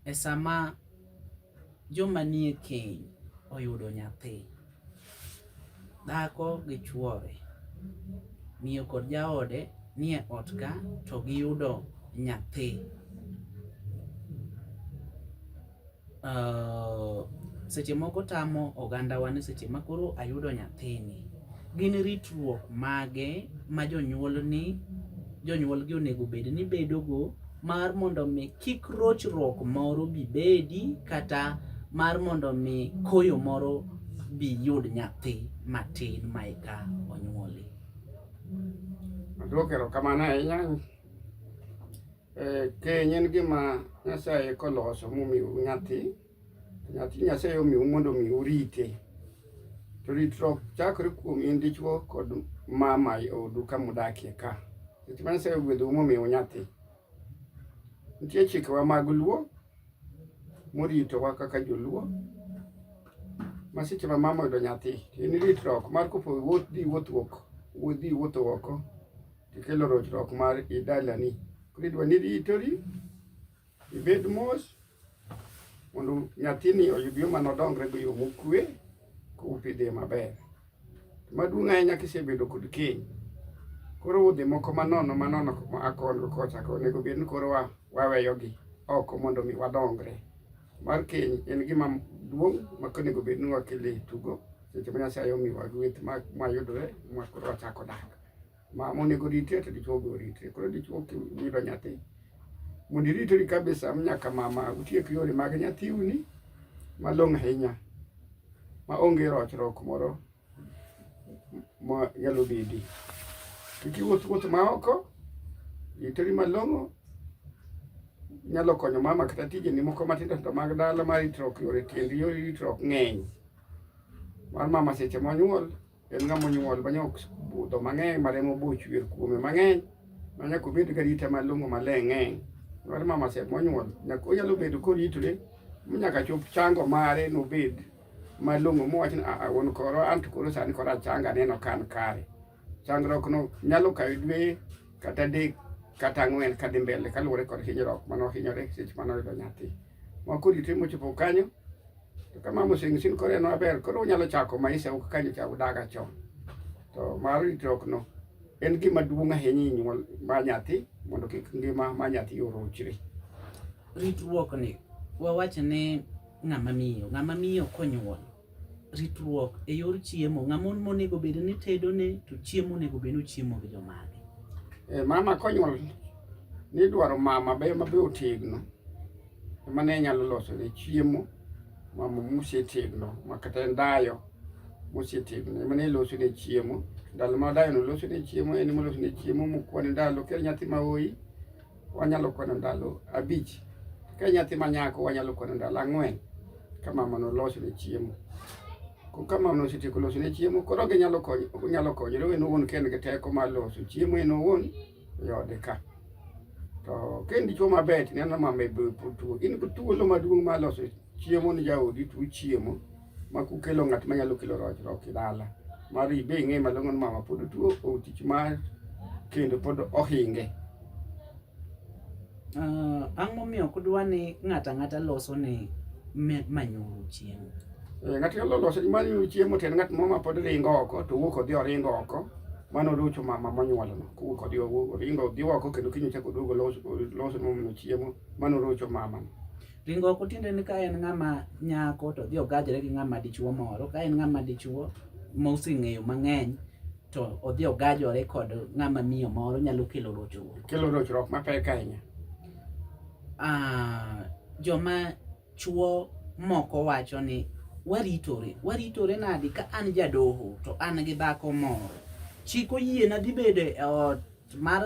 e sama joma nie keny oyudo nyathi, dhako gi chwore, miyo kod jaode nie ot ka to giyudo nyathi. Uh, seche moko tamo ogandawa ni seche ma koro ayudo nyathini, gin ritruok mage ma jonyuolni jonyuolgi onego bed ni bedogo mar mondo mi Kik rochruok moro bi bedi kata mar mondo mi koyo moro bi yud nyathi matin ma eka onyuoli. Adwoko erokamano ahinya. Eh, keny en gima Nyasaye koloso momiu nyathi, nyathi Nyasaye omiu mondo mi urite. To ritruok chakore kuom in dichwo kod mama e odu kama udakie ka. Nikech Nyasaye ogwedhou momiu nyathi. Nitie chikewa mag Luo moritowa kaka joluo ma seche ma mama oyudo nyathi to en ritruok mar kopo wuoth dhi wuoth wuok wuoth dhi wuotho oko tikelo rochruok mar idalani koro idwa ni ritori ibed mos mondo nyathini oyud yo mano dongre go yo mokwe kopidhe maber maduong' ahinya kisebedo kod keny koro udhi moko manono manono akongo kocha onego bed ni koro waweyogi oko mondo mi wadongre mar keny en gima duong' ma onego bed ni wakele tugo seche ma nyasaye omiwa gweth mayudore ma koro wachako dak ma monego ritie to dichuo be oritie. Koro dichuo kiyudo nyathi mondo iritori kabisa nyaka mama utiek yore mag nyathiuni malong'o ahinya ma onge rochruok moro ma nyalo bedi. Kik iwuoth wuoth ma oko, iteri malong'o nyalo konyo mama kata tijeni moko matindo tindo mag dala mar ritruok yore tiendi yore ritruok ng'eny mar mama seche monyuol En ng'ama onyuol ma nyok budho mang'eny ma remo boch wer kuome mang'eny ma nyaka obed gi arita malong'o maler ng'eny. Mar mama sep monyuol nyaka onyalo bedo koritore nyaka chop chango mare nobed malong'o mowach ni aa wuon koro an to koro sani koro achanga aneno ka an kare. Changruokno nyalo kawo dwe kata adek kata ang'wen kadhi mbele kaluwore kod hinyruok mane ohinyore seche mane oyudo nyathi. Moko rite mochopo kanyo to kamamo sing sin kore no aber koro unyalo chako maisha ok kanyo cha udaga chon to mar ritruok no en gima duong' ahinya e nyuol ma nyathi mondo kik ngima ma nyathi orochre ritruok ni wawacho ni ng'ama miyo ng'ama miyo konyuol ritruok e yor chiemo ng'ama on monego bed ni tedo ne to chiemo onego bed ni ochiemo gi jomage e mama konyuol nidwaro mama be mabe otegno ema ne nyalo losone chiemo ma mosetegno ma kata en dayo mosetegno ema ne losone chiemo ndalo ma dayono losone chiemo en ema losone chiemo mokwane ndalo ka nyathi ma oyi wanyalo kwano ndalo abich ka nyathi ma nyako wanyalo kwano ndalo ang'wen ka mamano losone chiemo ka mamano osetieko losone chiemo koro ginyalo konyore en owuon ka en gi teko mar loso chiemo en owuon e ode ka to kendicho maber tineno mama tuo in thuolo maduong' ma loso chiemo ni jaodi tuo chiemo ma kukelo ng'at ma nyalo kelo rochruok e dala mar ibe ing'e malong'o ni mama pod tuo otich mar kendo pod ohinge Uh, ang' momiyo ok dwa ni ng'ato ang'ata loso ni manyuru chiemo eh, ng'at nyalo loso ni manyuru chiemo to en ng'at moro ma pod ringo oko to wuok odhi oringo oko mano lucho mama monyuolono kowuok odhi oringo odhi oko kendo kiny ochako oduogo loso momiyo chiemo mano lucho mama ringo oko tiende ni ka en ng'ama nyako to odhi ogajore gi ng'ama dichuo moro ka en ng'ama dichuo moseng'eyo mang'eny to odhi ogajore kod ng'ama miyo moro nyalo kelo rochruok. Kelo rochruok mapek ahinya. Ah, joma chuo moko wacho ni waritore, waritore nadi ka an jadoho to an gi dhako moro. Chik oyiena dhi bedo e ot mar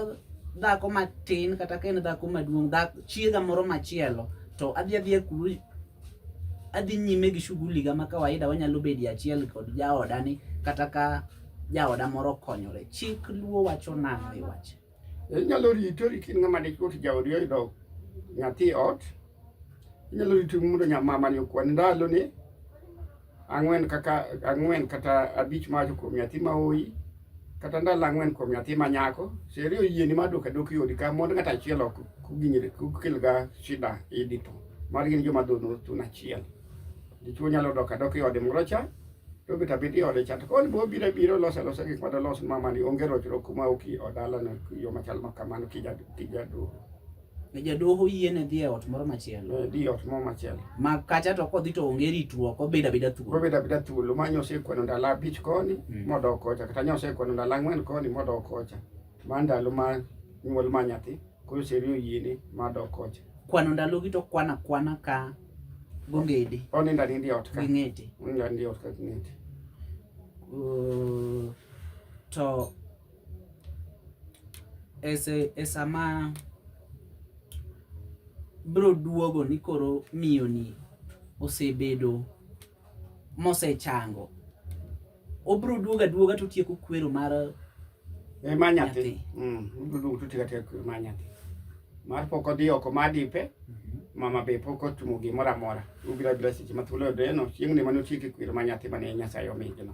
dhako matin kata ka en dhako maduong' chiega moro machielo to adhi adhi e kulu adhi nyime gi shughuli ga ma kawaida wanyalo bedi achiel kod jaoda ni kata ka jaoda moro konyore chik luo wacho nang'o e wach inyalo ritori kin ng'ama ne kot jaodi oyudo nyathi ot inyalo ritori mondo nyamamani okwan ndalo ni ang'wen kaka ang'wen kata abich mawacho kuom nyathi ma oyi kata ndalo ang'wen kuom nyathi ma nyako seri oyieni mar dok adok yodi ka mond ng'at achiel ok kuginyre kukelga shida idi to mar gin joma dhono thun achiel dichuo nyalo dok adok e ode moro cha to bet abet e ode cha to koni bo biro biro losa losa gik madalos mamani onge rochruok kuma oki odalano yo machal ma kamano kijadoro Ne jadoho yiene dhi e ot moro machielo. Eh, dhi e ot moro machielo. Ma kacha to kodhi to onge ritruok, obedo abeda thuolo. Obedo abeda thuolo, ma nyo osekwano ndalo abich koni mm. modok kocha, kata nyo osekwano ndalo ang'wen koni modok kocha. Ma ndalo ma nyuol ma nyathi, koro oseriyo yiene madok kocha. Kwano ndalogi to kwana kwana ka gongede. Onindo anindi e ot ka. Ging'ete. Onindo anindi e ot ka ging'ete. Uh, to e sama bro duogo ni koro miyoni osebedo mosechango obro duogo aduoga to tieko kwero mar e ma nyathi mm, obro duogo to tieko tieko ma nyathi mar pok odhi oko ma dipe mhm. mama be pok otumo gimoro amora ubira bira seche ma thuolo odeno chieng'ni mane otieke kwero ma nyathi mane nyasaye omigino